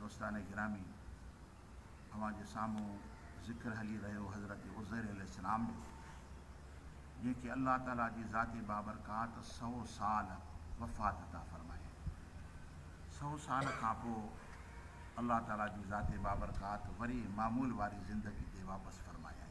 دوستان گرامي اوهان جي سامهون ذڪر هلي رهيو حضرت عزير عليه السلام جو جنهن کي الله تعالي جي ذات بابرڪات سئو سال وفات عطا فرمائي سئو سال کان پوء الله تعالي جي ذات بابرڪات وري معمول واري زندگي تي واپس فرمايائين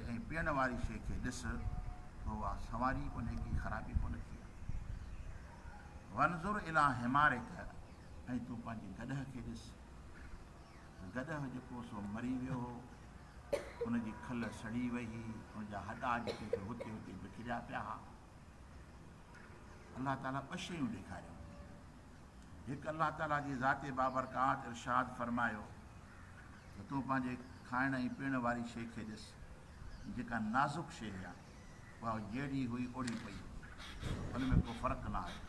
۽ پيئڻ واري شيء کي ڏس ته اها سنواري ڪونهي ڪي خرابي ڪونه ٿي آهي. وانظر اليٰ حمارڪ ۽ تون پنهنجي گڏهه کي ڏس ته گڏهه جيڪو سو مري ويو هو، ان جي کل سڙي وئي هئي، ان جا هڏا جيڪي سو هتي هتي بکريا پيا ها. الله تعاليٰ ٻه شيون ڏيکاريون. هڪ الله تعاليٰ جي ذات بابرڪات ارشاد فرمايو ته تون پنهنجي کائڻ ۽ پيئڻ واري شيء کي ڏس، جيڪا نازڪ شيء هيا، اها جهڙي هئي اوڙي پئي هئي، ان ۾ ڪو فرق نه آيو.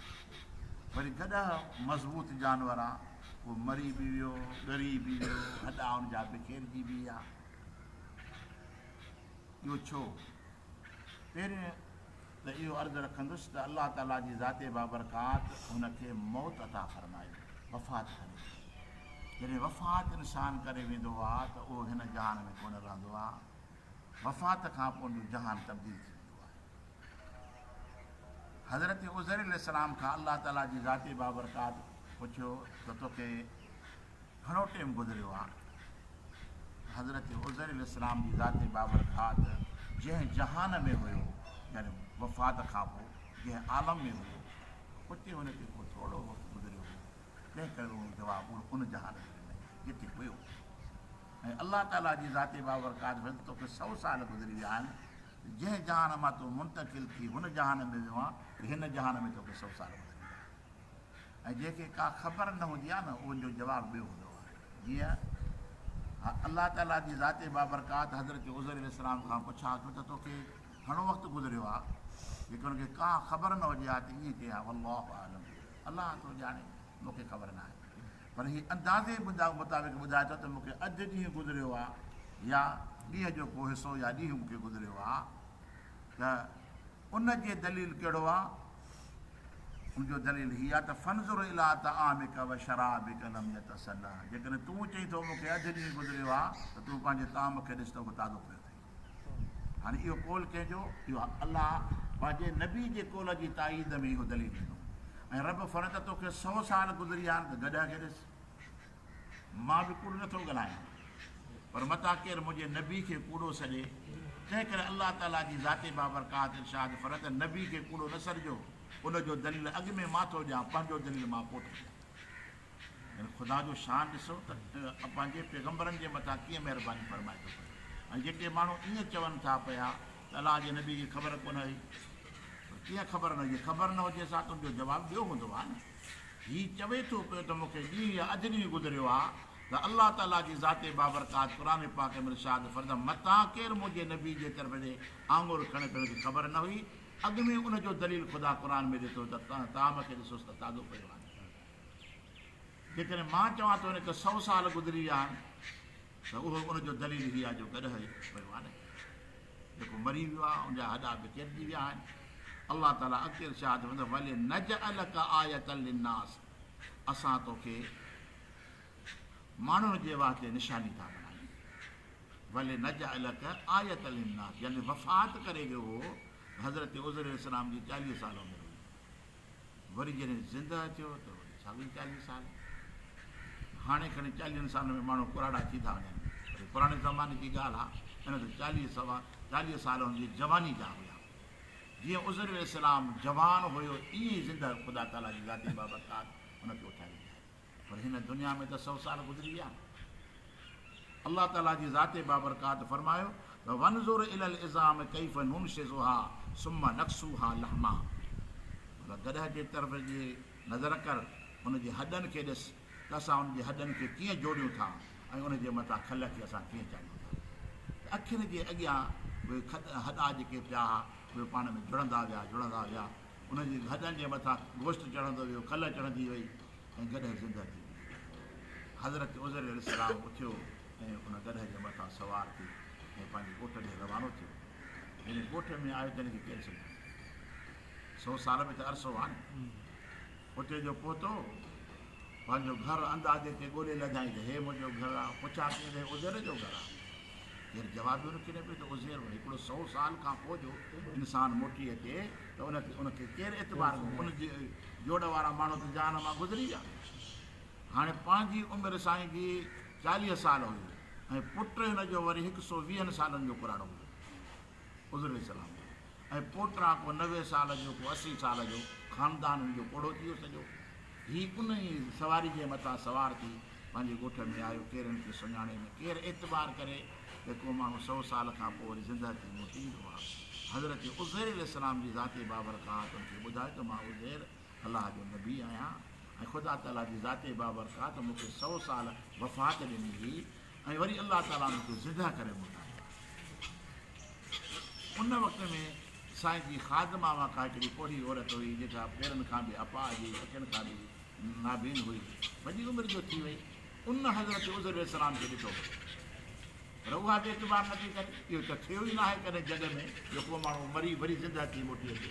وري گڏهه مضبوط جانور آ، اهو مري به ويو، ڳري به ويو، هڏا ان جا بکيرجي به ويا. اهو ڇو؟ پهرين ته اهو عرض رکندس ته الله تعاليٰ جي ذات بابرڪات هن کي موت عطا فرمائي، وفات ڪري ويندي. جڏهن وفات انسان ڪري ويندو آ ته اهو هن جهان ۾ ڪونه رهندو آ. وفات کان پون جو جهان تبديل ٿي ويندو آهي. حضرت عزير عليه السلام کان الله تعاليٰ جي ذات بابرڪات پڇيو ته توکي گهڻو ٽيم گذريو آ ته حضرت عزير عليه السلام جي ذات بابرڪات جنهن جهان ۾ هيو يعني وفات کان پوء جنهن عالم ۾ هيو اتي ان کي ڪو ٿورڙو وقت گذريو هو تنهن ڪري اهو جواب اهو ان جهان ۾ ڏنئي جتي هيو ۽ الله تعالي جي ذات بابرڪات فرمائي ته توکي سؤ سال گذري ويا آهن ته جنهن جهان مان تون منتقل ٿي هن جهان ۾ ويو آن ته هن جهان ۾ توکي سؤ سال گذري ويا آهن ۽ جنهن کي ڪا خبر نه هوندي آهي نه ان جو جواب ٻيو هوندو آهي جيئن الله تعالي جي ذات بابرڪات حضرت عزير عليه السلام کان پڇا ٿو ته توکي گهڻو وقت گذريو آهي جيڪي ان کي ڪا خبر نه هجي ها ته ائين چئي ها والله عالم الله ٿو ڄاڻي مونکي خبر نه آهي پر هي اندازي مطابق ٻڌائي ٿو ته مونکي اڄ ڏينهن گذريو آ يا ڏينهن جو ڪو حصو يا ڏينهن مونکي گذريو آ ته ان جي دليل ڪهڙو آ ان جو دليل هي آهي ته فانظر الي طعامک و شرابک لم يتسنه جيڪڏهن تون چئين ٿو مون کي اڌ ڏينهن گذريو آهي ته تون پنهنجي طعام کي ڏس ته اهو تازو پيو اٿئي هاڻي اهو قول ڪنهن جو اهو الله پنهنجي نبي جي قول جي تائيد ۾ اهو دليل ڏنو ۽ رب فرمائي ته توکي سو سال گذريا آهن ته گڏهه کي ڏس مان به ڪوڙ نه ٿو ڳالهايان پر متان ڪير منهنجي نبي کي ڪوڙو سڏي تنهن ڪري الله تعالي جي ذات بابرڪات ارشاد فرمايو ته نبي کي ڪوڙو نه سڏجو ان جو دليل اڳ ۾ مان ٿو ڏيان پنهنجو دليل مان پوء ٿو ڏيان يعني خدا جو شان ڏسو ته پنهنجي پيغمبرن جي مٿان ڪيئن مهرباني فرمائي ٿو پيو ۽ جيڪي ماڻهو ائين چون ٿا پيا ته الله جي نبي کي خبر ڪونه هئي پر ڪيئن خبر نه هئي خبر نه هجي سا تنهنجو جواب ٻيو هوندو آ نه هي چوي ٿو پيو ته مون کي ڏينهن يا اڌ ڏينهن گذريو آ ته الله تعاليٰ جي ذات بابرڪات قرآن پاڪ ۾ ارشاد فرد متان ڪير منهنجي نبي جي طرف ڏي آڱر کڻي ته ان کي خبر نه هئي اڳ ۾ ان جو دليل خدا قرآن ۾ ڏي ٿو ته تنهن طعام کي ڏسوس ته تازو پيو آهي جيڪڏهن مان چوان ته ان کي سؤ سال گذري ويا آهن. ته اهو ان جو دليل هي آهي جو گڏهه هڪ پويو آني ٿو جيڪو مري ويو آهي ان جا هڏا به چرجي ويا آهن الله تعالي اڳتي ارشاد فرمائيندو ولنجعلک آية للناس اسان توکي ماڻهن جي واسطي نشاني ٿا بڻايون ولنجعلک آية للناس يعني وفات ڪري ويو هو حضرت عزير عليه السلام جي چاليهه سال عمر هئي وري جڏهن زنده ٿيو ته وري ساڳئي چاليهه سال. هاڻي کڻي چاليهن سالن ۾ ماڻهو ڪراڙا ٿي ٿا وڃن. وري پراڻي زماني جي ڳالهه آ ان ته چاليهه سوا چاليهه سال هن جي جواني جا هيا. جيئن عزير عليه السلام جوان هيو ائين ئي زنده خدا تعاليٰ جي ذاتي بابرڪات هن کي اٿاري ڏياري. پر هن دنيا ۾ ته سؤ سال گذري ويا. الله تعاليٰ جي ذات بابرڪات فرمايو ته وانظر الي العظام ڪيف ننشزها ثم نڪسوها لحما مطلب گڏهه جي طرف جي نظر ڪر ان جي هڏن کي ڏس ته اسان ان جي هڏن کي ڪيئن جوڙيون ٿا ۽ ان جي مٿان کل کي اسان ڪيئن چاڙهيون ٿا ته اکين جي اڳيان اهي هڏا جيڪي پيا اهي پاڻ ۾ جڙندا ويا جڙندا ويا ان جي هڏن جي مٿان گوشت چڙهندو ويو، کل چڙهندي وئي ۽ گڏهه زنده ٿي ويو. حضرت عزير عليه السلام اٿيو ۽ ان گڏهه جي مٿان سوار ٿي ۽ پنهنجي ڳوٺ ڏي روانو ٿيو. جڏهن ڳوٺ ۾ آيو ته هن کي ڪير سڃاڻيو؟ سؤ سال به ته عرصو آهي نه. اتي جو پهتو، پنهنجو گهر اندازي کي ڳولي لڌائين ته هي منهنجو گهر آ، پڇا ڪيئن ته هي عزير جو گهر آ. ڪير جواب به نه ڪڍي پيو ته عزير ڀلا هڪڙو سئو سال کان پوء جو انسان موٽي اچي ته ان کي ان کي ڪير اعتبار ڪندو، ان جي جوڙ وارا ماڻهو ته جهان مان گذري ويا. هاڻي پنهنجي عمر سائين جي چاليهه سال هئي ۽ پٽ هن جو وري هڪ سئو ويهن سالن جو ڪراڙو هو. حضور عليه السلام ۽ پوٽا ڪو نوي سال جو ڪو اسي سال جو خاندان هن جو پوڙهو ٿي ويو سڄو هي ان ئي سواري جي مٿان سوار ٿي پنهنجي ڳوٺ ۾ آيو ڪير هن کي سڃاڻي نه ڪير اعتبار ڪري ته ڪو ماڻهو سو سال کان پوء وري زندهه ٿي موٽي ايندو آهي حضرت عزير عليه السلام جي ذاتي بابرڪات ان کي ٻڌائي ته مان عزير الله جو نبي آهيان ۽ خدا تعاليٰ جي ذات بابرڪات مون کي سؤ سال وفات ڏني هئي ۽ وري الله تعاليٰ مون کي زندهه ڪري موٽايو ان وقت ۾ سائين جي خادم آواں ڪا هڪڙي پوڙهي عورت هئي جيڪا پيرن کان به اپاء جي اکين کان به نابين هئي وڏي عمر جو ٿي وئي ان حضرت عزر السلام کي ڏٺو پر اها به اعتبار نٿي ڪري اهو ته ٿيو ئي ناهي ڪڏهن جڳ ۾ جو کو ماڻهو مري وري زندهه ٿي موٽي اچي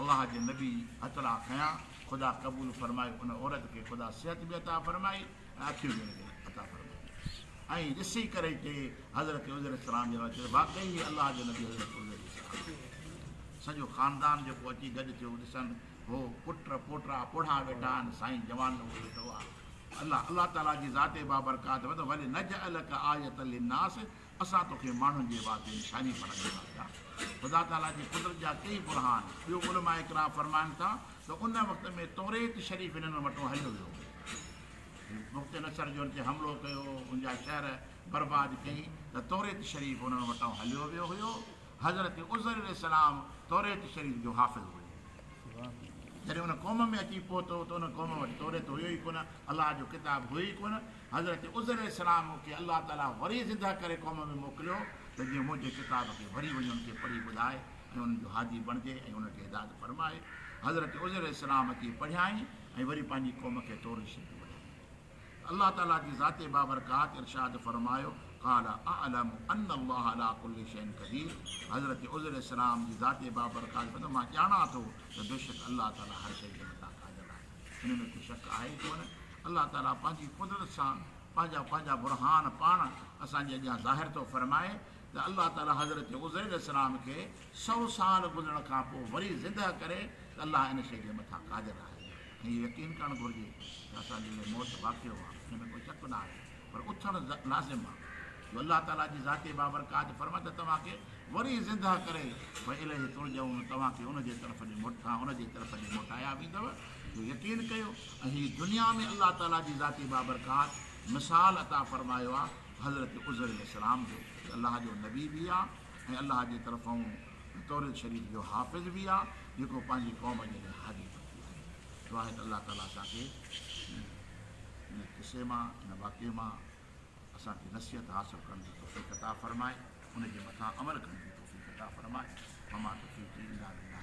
الله جي نبي هٿڙا کنيا، خدا قبول فرمائي ان عورت کي خدا صحت به عطا فرمائي ۽ اکيون به ان کي عطا فرمايون ۽ ڏسي ڪري ٽي حضرت عزير عليه السلام جي حوالي ٿيو واقعي هي الله جي نبي حضرت عزير عليه السلام سڄو خاندان جيڪو اچي گڏ ٿيو ڏسن هو پٽ پوٽا پوڙها ويٺا آهن سائين جوان لوگ ويٺو آهي الله الله تعالي جي ذات بابرڪات مطلب ولي نجعلك آية للناس اسان توکي ماڻهن جي وات جي نشاني بڻائي ڏنا ٿا. خدا تعاليٰ جي قدرت جا ڪيئي برهان. ٻيو علماء ڪرام فرمائن ٿا ته ان وقت ۾ توريت شريف هنن وٽون هليو ويو هو. بخت نصر جو هن تي حملو ڪيو، هن جا شهر برباد ڪيئي ته توريت شريف هنن وٽان هليو ويو هيو. حضرت عزير عليه السلام توريت شريف جو حافظ هيو. جڏهن ان قوم ۾ اچي پهتو ته ان قوم وٽ توريت هيو ئي ڪونه، الله جو ڪتاب هيو ئي ڪونه. حضرت عزير عليه السلام کي الله تعاليٰ وري زندهه ڪري قوم ۾ موڪليو ته جيئن منهنجي ڪتاب کي وري وڃي ان کي پڙهي ٻڌاء ۽ انهن جو هادي بڻجي ۽ انهن کي هدايت فرماء. حضرت عزير عليه السلام اچي پڙهيائين ۽ وري پنهنجي قوم کي توريت شريف ٻڌائي. ته الله تعاليٰ جي ذات بابرڪات ارشاد فرمايو، قال اعلم ان الله علي ڪل شيء قدير حضرت عزير عليه السلام جي ذات بابرڪات فرمائي مان ڄاڻان ٿو ته بيشڪ الله تعاليٰ هر شيء جي مٿان قادر آهي. ان ۾ ڪو شڪ آهي ئي ڪونه. الله تعاليٰ پنهنجي قدرت سان پنهنجا پنهنجا برهان پاڻ اسان جي اڳيان ظاهر ٿو فرمائي ته الله تعاليٰ حضرت عزير عليه السلام کي سؤ سال گذرڻ کان پوء وري زندهه ڪري ته الله ان شيء جي مٿان قادر آهي ۽ اهو يقين ڪرڻ گهرجي ته اسان جي اهي موت واقعو آهي ان ۾ ڪو شڪ نه آهي پر اٿڻ لازم آهي جو الله تعاليٰ جي ذاتي بابرڪات فرمان ته توهان کي وري زندهه ڪري وإليه ترجعون توهان کي ان جي طرف ڏي موٽ کان ان جي طرف ڏي موٽايا ويندو جو يقين ڪيو هي دنيا ۾ الله تعالي جي ذاتي بابرڪات مثال عطا فرمايو آ حضرت عزير عليه السلام جو جي الله جو نبي به آ ۽ الله جي طرفئون توريت شريف جو حافظ به آ جيڪو پنهنجي قوم جي لاء هادي بڻجي آيو دعا آهي ته الله تعالي اسان کي ان قصي مان ان واقعي مان اسان کي نصيحت حاصل ڪرڻ جي توفيق عطا فرمائي ان جي مٿان عمل ڪرڻ جي توفيق عطا فرمائي وما توفيقي الا بالله